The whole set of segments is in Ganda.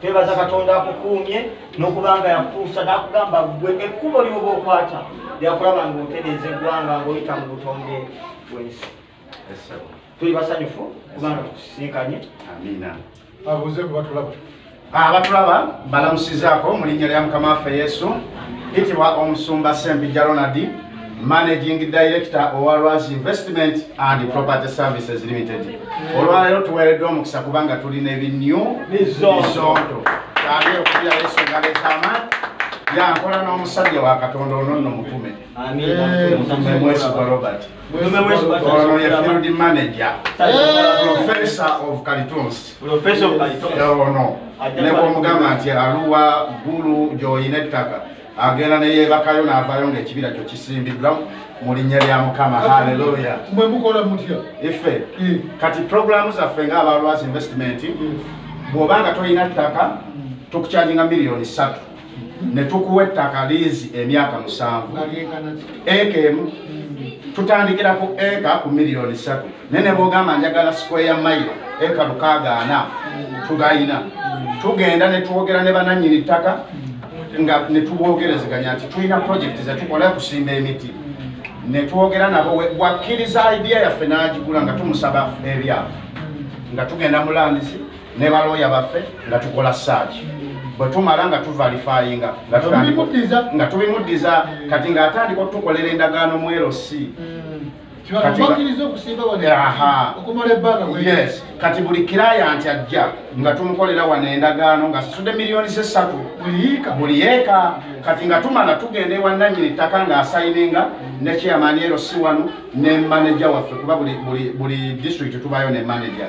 twebaza katonda akukuumye n'okuba nga yakutuusa n'akugamba gwe ekkubo lyoba okwata lyakulaba nga otereeza eggwanga ng'oyita mu butonde bwensi tuli basanyufu kubanga tukusisinkanye amiina abuuze kuba tulaba abatulaba ah, balamusizaako mu linnya lya mukama waffe yesu itibwa omusumba sembijja ronaldi managing director owa Rwaz investment and property services limited olwaleero tuweereddwa omukisa kubanga tulina ebinyu bizonto kyagee okulya yesu ngaleetaama yankola n'omusajja wa katonda ono nno mutume mutume mwesigwa robert ono ye field manager professor of calitons ono nebwomugamba nti aluwa gulu gyoyina ettaka agenda neyebakayo navayo nga ekibira kyo kisimbiddwa mu linnya lya mukama haleluya mwe mukola mutya ife eh. kati programu zaffe nga abalwazi investment eh. bwoba nga tolina ttaka hmm. tukukyaginga miliyoni ssatu hmm. ne tukuwa ettaka liizi emyaka musanvu eka emu hmm. tutandikira ku eka ku miliyoni ssatu naye ne bwogamba njagala sikweya mayiro eka lukaaga ana tugayina tugenda ne twogera ne bananyini ttaka nga ne tubwogerezeganya nti tulina purojekiti ze tukola okusimba emiti ne twogera nabo wakkiriza idiya yaffe n'agigula nga tumusaba ebyafa nga tugenda mu landisi ne balooya baffe nga tukola saaki bwe tumala nga tuvalifayinga nga tubimuddiza kati ng'atandika okutukolera endagaano mu erosi mm. kati buli kiraya nti ajja nga tumukolera wano endagaano nga sasude miliyoni sesatu buli yeeka kati nga tumala tugenda ewananyini ttaka nga asayininga nekyeyamaani ero si wano ne manaja waffe kuba buli district tubayo ne manaja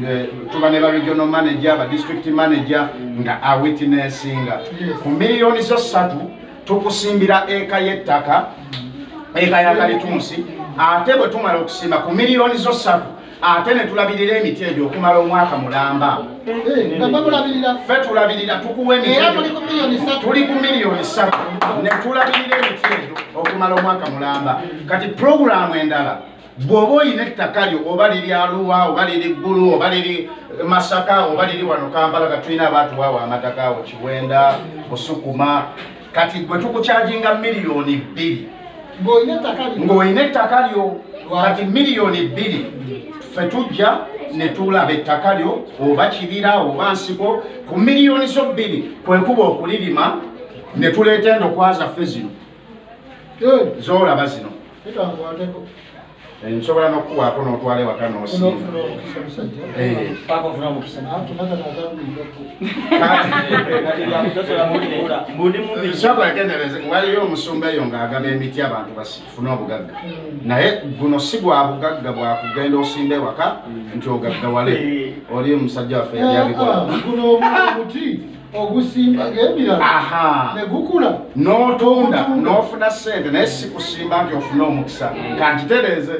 eh, tuba ne ba regional manaja ba district manaja nga awitinessinga ku miliyoni zo satu tukusimbira eka y'ettaka eka ya kalitunsi ate bwe tumala okusimba ku miliyoni zo ssatu ate ne tulabirira emiti egyo okumala omwaka mulamba ffe tulabirira tukuwa emitituli ku miliyoni ssatu ne tulabirira emiti egyo okumala omwaka mulamba kati pulogulaamu endala bw'oba olina ettaka lyo oba liri aluwa oba liri ggulu oba liri masaka oba liri wano kampala kati tulina abantu waawo amataka awo kiwenda busukuma kati gwe tukukyajinga miliyoni bbiri ng'olina ettaka lyo kati miliyoni bbiri fe tujja netulaba ettaka lyo oba kibira oba nsiko ku miliyoni zo bbiri kwekuba okulirima netuleeta endokwaza fe zino eh. zolaba zino Eh, nsobola nokukuwaako notwala ewaka nosiiagendereze eh. waliyo omusumba eyo ngaagaba emiti abantu bafune obugagga hmm. naye guno si gwa bugagga bwakugenda osimba ewaka hmm. nti ogaggawale eh. oli omusajja waffe yali abikola ah, ogusimba ngemirala negukula notunda nofuna sente naye sikusimba nti ofune omukisa mm. kantitereze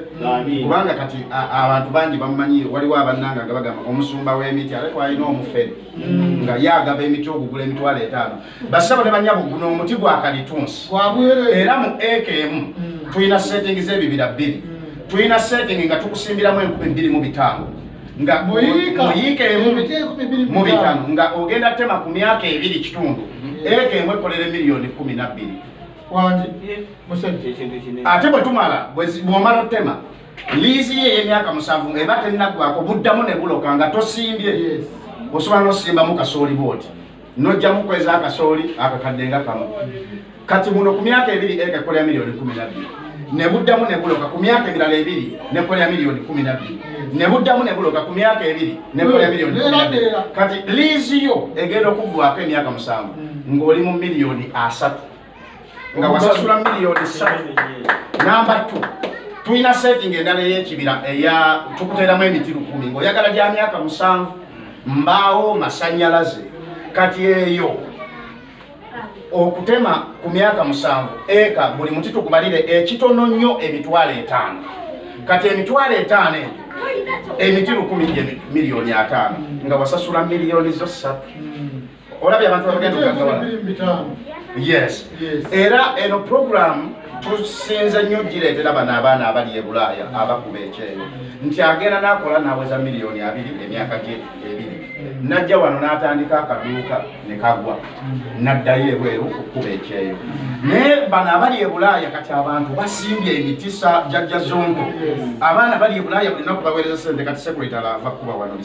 kubanga kati abantu bangi bamumanyi waliwo abannanga nga bagamba omusumba wemiti ate twalina omufere mm. nga yagaba emiti ogugula emitwalo etaano basaba ne banyabo guno omuti gwakalitunsi era mu eka emu mm. tulina setting zebibira bbiri tulina setting nga tukusimbiramu enkumi bbiri mu bitaano nga muyiika emu mu bitano nga ogenda tema ku myaka ebiri kitundu eka emu ekolera emiliyoni kumi nabbiri ate bwe tumala bwomala otema liizi ye ey'emyaka musanvu eba tennaggwako buddamu ne buloka nga tosimbye osobola n'osimbamu kasooli bwoti nojjamu kweza akasooli akakadde nga kamu kati muno ku myaka ebiri eka ekola ya miliyoni kumi nabbiri nebuddamu nebuloka ku myaka emirala ebiri nekola ya miliyoni kumi nabbiri nebuddamu nebuloka ku myaka ebiri nekola ya miliyoni kati liizi yo egenda okuggwako emyaka musanvu ng'oli mu miliyoni asatu nga wasasula miliyoni satu namba tu tulina setting endala eyekibira eya tukuteramu emiti lukumi ngaoyagala gya myaka musanvu mbaawo masanyalaze kati eyo okutema ku myaka musanvu eka buli muti tukubalire ekitono nnyo emitwalo etaano kati emitwalo etaano egyo emiti lukumi gye miliyoni ataano nga wasasula miliyoni zo ssatu olabye abantu abagenda okugagawala yes era eno programu tusinze nnyo gireetera bano abaana abali e bulaaya abakuba ekyeyo nti agenda n'akola n'aweza miliyoni abiri emyaka gye ebiri najja wano n'atandika akaduuka ne kagwa n'addayo ebweru okukuba ekyeyo naye bano abali e bulaaya kati abantu basimbye emitisa jajja zonto abaana bali e bulaaya bulinaku baweereza sente kati sekuletala ava kukuba wano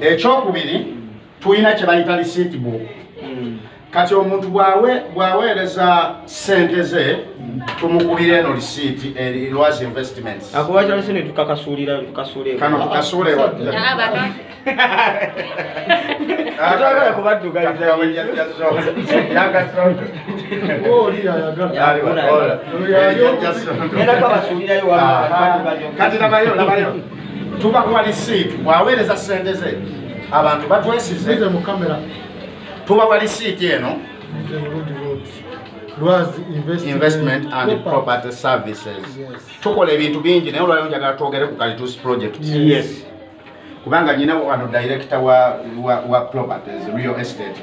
ekyokubiri tulina kyebayita receipt book kati omuntu bwaweereza sente ze tumukubira eno receipt erwas eh, investments kano tukasuulekati nabayo nabayo tubakuwa lisiiti bwaweereza sente ze abantu batwesize tubawa lisiiti eno investment and property services tukola ebintu bingi naye olwaleo njagala twogere ku kalitus project kubanga nyina wano director wa properties real estate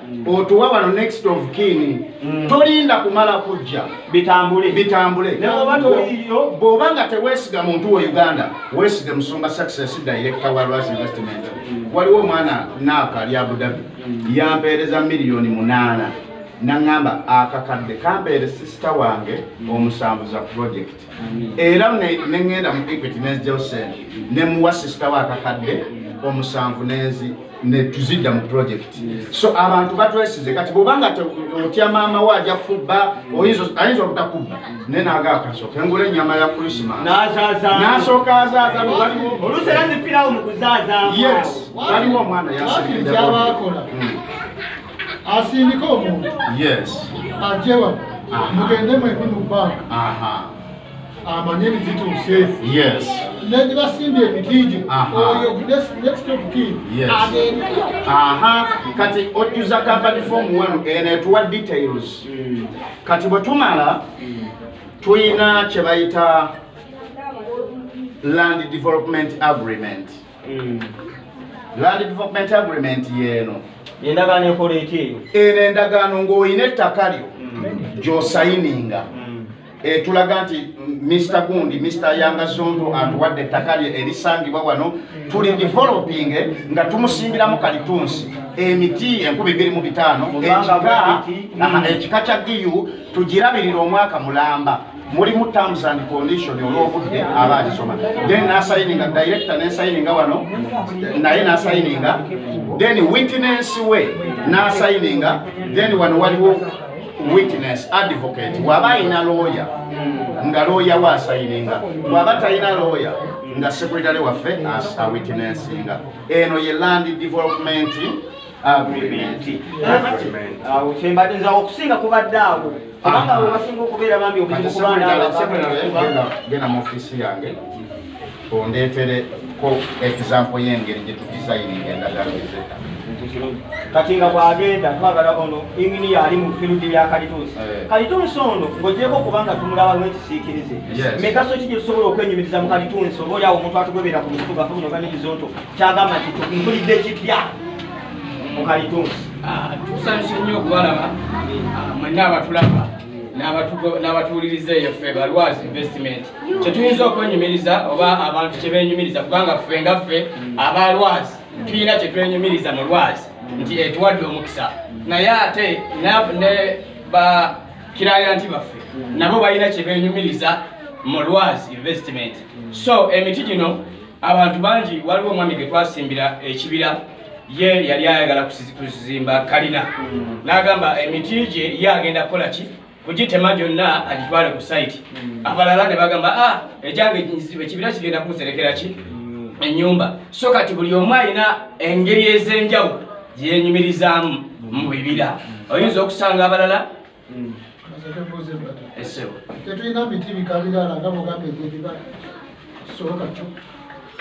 otuwa wano next of kin mm. tolinda kumala kujja bitambule bitambule bwoba nga tewesiga muntu we uganda wesige musumba success director wa ras investment mm. waliwo omwana naaka lya budabi mm. yampeereza miliyoni munaana naŋŋamba akakadde kampeere sisita wange omusanvu za project era nengenda mu equity nenzija osen nemuwa sisita wa akakadde omusanvu nenzi netuzidda mu project so abantu batwesize kati bwobanga otya maama wo aja kubba ayinza obutakubba naye naga akasoka engula enyama ya krisimas nasooka azaazaaoluserazipirawo mu kuzaazamu yes waliwo omwana yasbyabakola asindika omuntu ajewa mugende mwembi mu banka amanye ebizituuse negibasimbye ebitijo oyo next of kin kati ojuza company form wanu eno etuwa details hmm. kati bwetumala hmm. tulina kyebayita land development agreement mm. land development agreement yeeno endagaano ekola eki eyo eno endagaano ng'olina ettaka lyo mm. gyosayininga mm. etulaga nti mr gundi mr yanga zonto atuwadde ettaka lye erisangibwa wano tuli developing nga tumusimbiramu kalitunsi emiti enkumi biri mu bitaano ekika kya giu tugirabirira omwaka mulamba mulimu terms and condition olwobudde aba alisoma then nasayininga director nesayininga wano naye nasayininga then witness we nasayininga then wano waliwo witness advocate waba ayina looya nga looya we asayininga waba talina looya nga sekretary waffe awitnessinga eno ye land development awo kyembadde nze awo okusinga kubadde awo kubanga awo basinga okubeera bambi obuzibu kubandagenda mu ofiisi yange ondeetereko example y'engeri gye tudisayininga endagala ezeta kati nga bwagenda twagala ono inginiya ali mu firudi ya kalituusi eh. kalituusi ono ng'ogyeko kubanga tumulaba lwekisiikirize migaso ki gye tusobola okwenyumiriza mu kalituusi oba oli awo omuntu atugobera ku mutugafu buno ganibizonto kyagamba nti tukumpulidde kipya mukalitunsi ah, tusanyuse nnyo okubalaba ah, mwenna abatulaba n'abatuwuliriza eyo ffe balwaz investment kyetuyinza okwenyumiriza oba abantu kyebenyumiriza kubanga ffe nga ffe abalwaz tulina kyetwenyumiriza mu lwaz nti etuwadde omukisa naye ate ne ba kirayanti baffe nabo balina kyebenyumiriza mu lwaz investment so emiti gino abantu bangi waliwo omwami ge twasimbira ekibira ye yali ayagala kuzimba kalina mm. n'agamba emiti gye ye agenda kukola ki kugitema gyonna agitwale ku sayiti mm. abalala ne bagamba a ah, egyange ekibira kigenda kumuserekera ki mm. ennyumba so kati buli omu alina engeri ez'enjawulo gyenyumirizaamu mu bibira oyinza okusanga abalala Mm. tetulina miti bikabirala nga bugamba egyebibala soboka kyo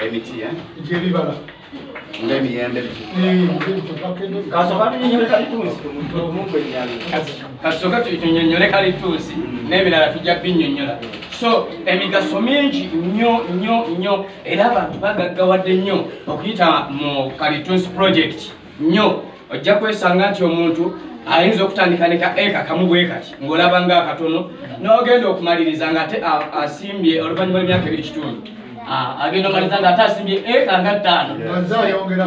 emiti eh? egyebibala ngaemiyembe kasooka tunyonyole kalituusi n'ebirala tujja binyonyola so emigaso mingi nnyo nnyo nnyo era abantu bagaggawadde nnyo okuyita mu kalituusi project nnyo ojja kwesanga nti omuntu ayinza okutandika ne ka eka kamu bwe kati ng'olaba nga akatono n'ogenda okumaliriza ng'ate asimbye oluvannyuma lw'emyaka ebiri kitundu agenda omaliza ng'ate asimbye eka nga ttaano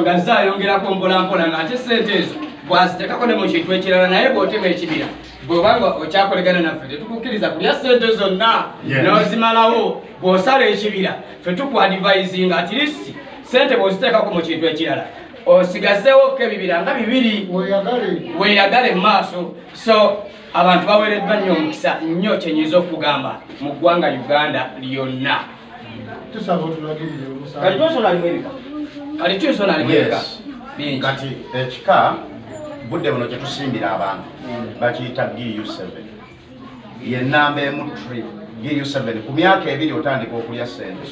nga ze ayongerako mpolampola ng'ate sente ezo bwazitekako ne mu kintu ekirala naye bw'otema ekibira bwobanga okyakolegana naffe tetukukkiriza kulya sente zonna nozimalawo bw'osala ekibira fe tukwadivaizinga atirisi sente bw'oziteekako mu kintu ekirala osigazewoko ebibira nga bibiri weyagale mu maaso so abantu bawereddwa nnyo omukisa nnyo kyenyinza okugamba mu ggwanga uganda lyonna kati ekika budde buno kyetusimbira abantu bakiyita gu7 ye namba emu tri giyu seven ku myaka ebiri otandika okulya sente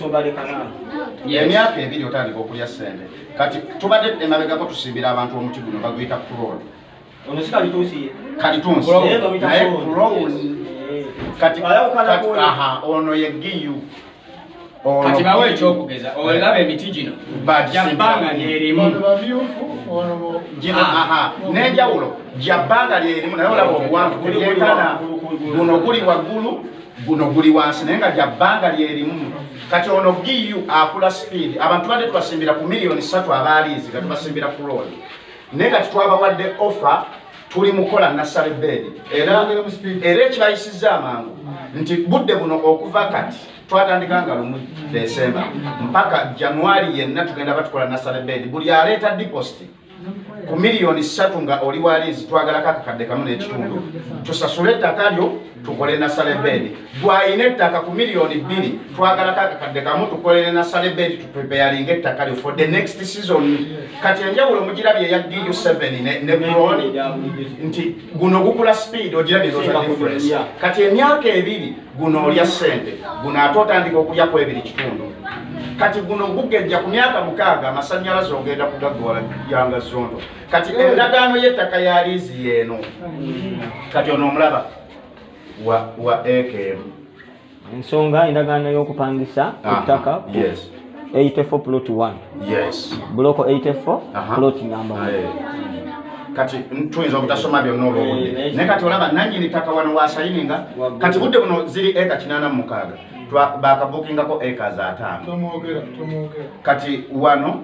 emyaka ebiri otandika okulya sente kati tubadde emabegako tusimbira abantu omuti guno baguyita kuroni kalitunsi naye kuroni kati aha ono ye giyu kati bawe ekyokugeza olaba emiti gino jabbanga lyerimu nenjawulo jabbanga lyerimu naye olaba obuwanvu kulyekana guno guli waggulu guno guli wansi naye nga jabbanga lyerimu kati ono giu akula speed abantu bade tubasimbira ku miliyoni satu abaaliizi gatubasimbira ku looni naye kati twabawadde offer tuli mukola nasale beedi era era ekibayisizza amangu nti budde buno okuva kati twatandika nga lumu desemba mpaka januari yenna tugenda batukola nasale beedi buli aleeta dipositi ku miliyoni ssatu nga oli waliizi twagalako akakadde kamu n'ekitundu tusasule ettaka lyo tukole nasale bedi gwalina ettaka ku miliyoni bbiri twagalako akakadde kamu tukolere nasale bedi tupepeyalinga ettaka lyo for the next season kati enjawulo mugirabye eya du 7 ne bron nti guno gukula speed ogirabyeosadifference kati emyaka ebiri guno olya ssente guno ate otandika okulya ku ebiri kitundu kati guno gugejja ku myaka mukaaga amasanyalaze ogenda kugagwala yanga zondo kati endagaano y'ettaka ya liizi yeeno kati ono omulaba wa ekm ensonga endagaano y'okupangisa ettaka eitefo plot one buloko eitefo plot namba kati tuyinza obutasoma byonna olwobude eh, naye kati olaba nanyini ttaka wano wasayininga kati budde buno ziri eka kinaana mu mukaaga bakabukingako eka za ataano kati wano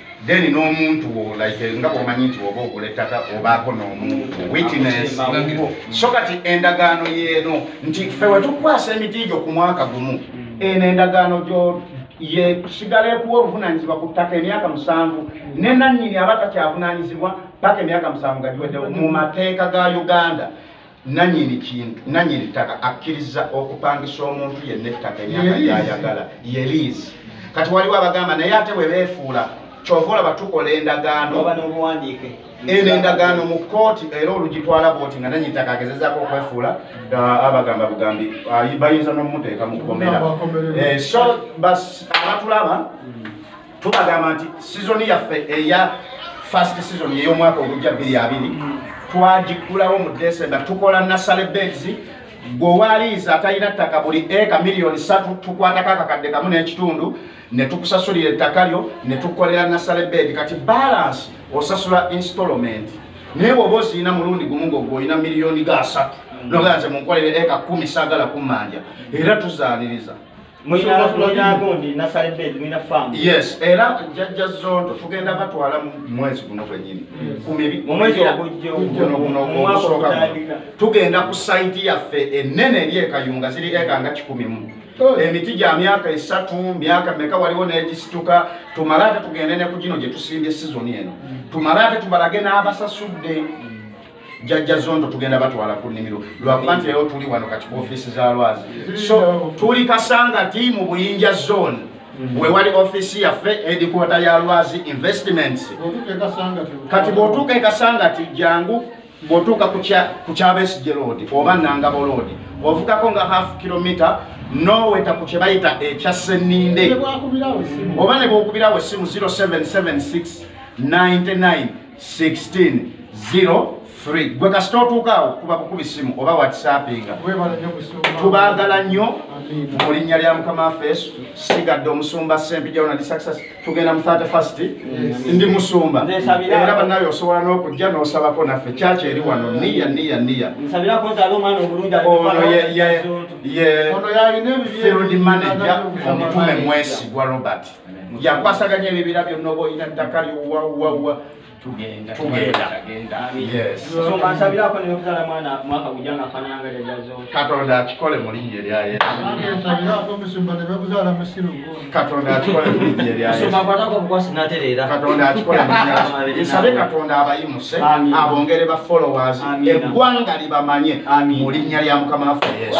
then n'omuntu wo like nga bwomanyi nti oba ogula ettaka obaako n'omuntu witness so kati endagaano yeeno nti fe wetukwasa emiti gyo ku mwaka gumu eno endagaano gyo ye sigala ekuwa obuvunanyizibwa ku ttaka emyaka musanvu ne nannyini aba takyavunanyizibwa paka emyaka musanvu gagiweddewo mu mateeka ga uganda nanyini kintu nanyini ttaka akkiriza okupangisa omuntu yenna ettaka emyaka gyayagala ye liizi kati waliwo abagamba naye ate bwe beefuula kyova olaba tukola endagaano eno endagaano mu kkooti era olugitwala bwoti nga nanyini ttaka agezezaako okwefuula uh, abagamba bugambi uh, bayinza n'omuteeka mu kkomera eh, so abatulaba mm. tubagamba nti sizoni yaffe eya fast season ey'omwaka ogujja bbiri abiri twagiggulawo mu desemba tukola nasale beds gwewaliiza atalina ttaka buli eka miliyoni satu tukwatako akakadde kamu n'ekitundu ne tukusasulira ettaka lyo ne tukolera nasale bed kati balance osasula installment naye woba osiina mulundi gumu ngogwe olina miliyoni ga satu noganze munkolere eka kumi sagala kummanja era tuzaniriza yes era jajja zondo tugenda batwala mumwezi guno gwenyini kumumweziogunogunogunosooka tugenda ku saiti yaffe enene eri ekayunga ziri eka nga kikumi mu oh. emiti gya myaka esatu myaka meka waliwo negisituka tumale ate tugende ne ku gino gyetusimbye sizoni eno mm. tumale ate tubalage n'abasasudde mm. jajja zondo tugenda batwala ku nnimiro lwakuba nti leero tuli wano kati ku ofiisi za lwazi so tuli kasanga ti mu buyinja zone mm. we wali ofiisi yaffe edikwota ya lwazi investments kati bw'otuuka e kasanga ti jangu bw'otuuka ku kyabesigye loodi oba nangabo loodi ovugako nga half kilomita noweta ku kye bayita ekya senninde oba ne bwokubirawo essimu 0776 99 1603 gwe kasita otuukaawo kuba kukubi simu oba whatsappinga tubaagala nnyo mu linnya lya mukama waffe yesu sigadde omusumba sempijaonadisaxas tugenda mu 31st ndi musumba era banaye osobola n'okujja n'osabako naffe kyaki eri wano niya niya niya ye field manager omutume mwesigwa robert yakwasaganya ebibira byonna oba olina ttaka lyowawawa tugenda katonda akikole mulinnya eryayesukatonda akikole mulinnya eryayesukatonda akikole mulinyasabe katonda abayimuse abongere ba followers eggwanga libamanye mu linnya lya mukama waffe yesu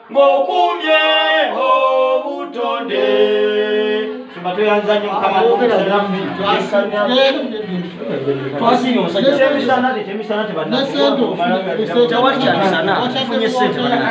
ngokumye obutonde twasinga omusajja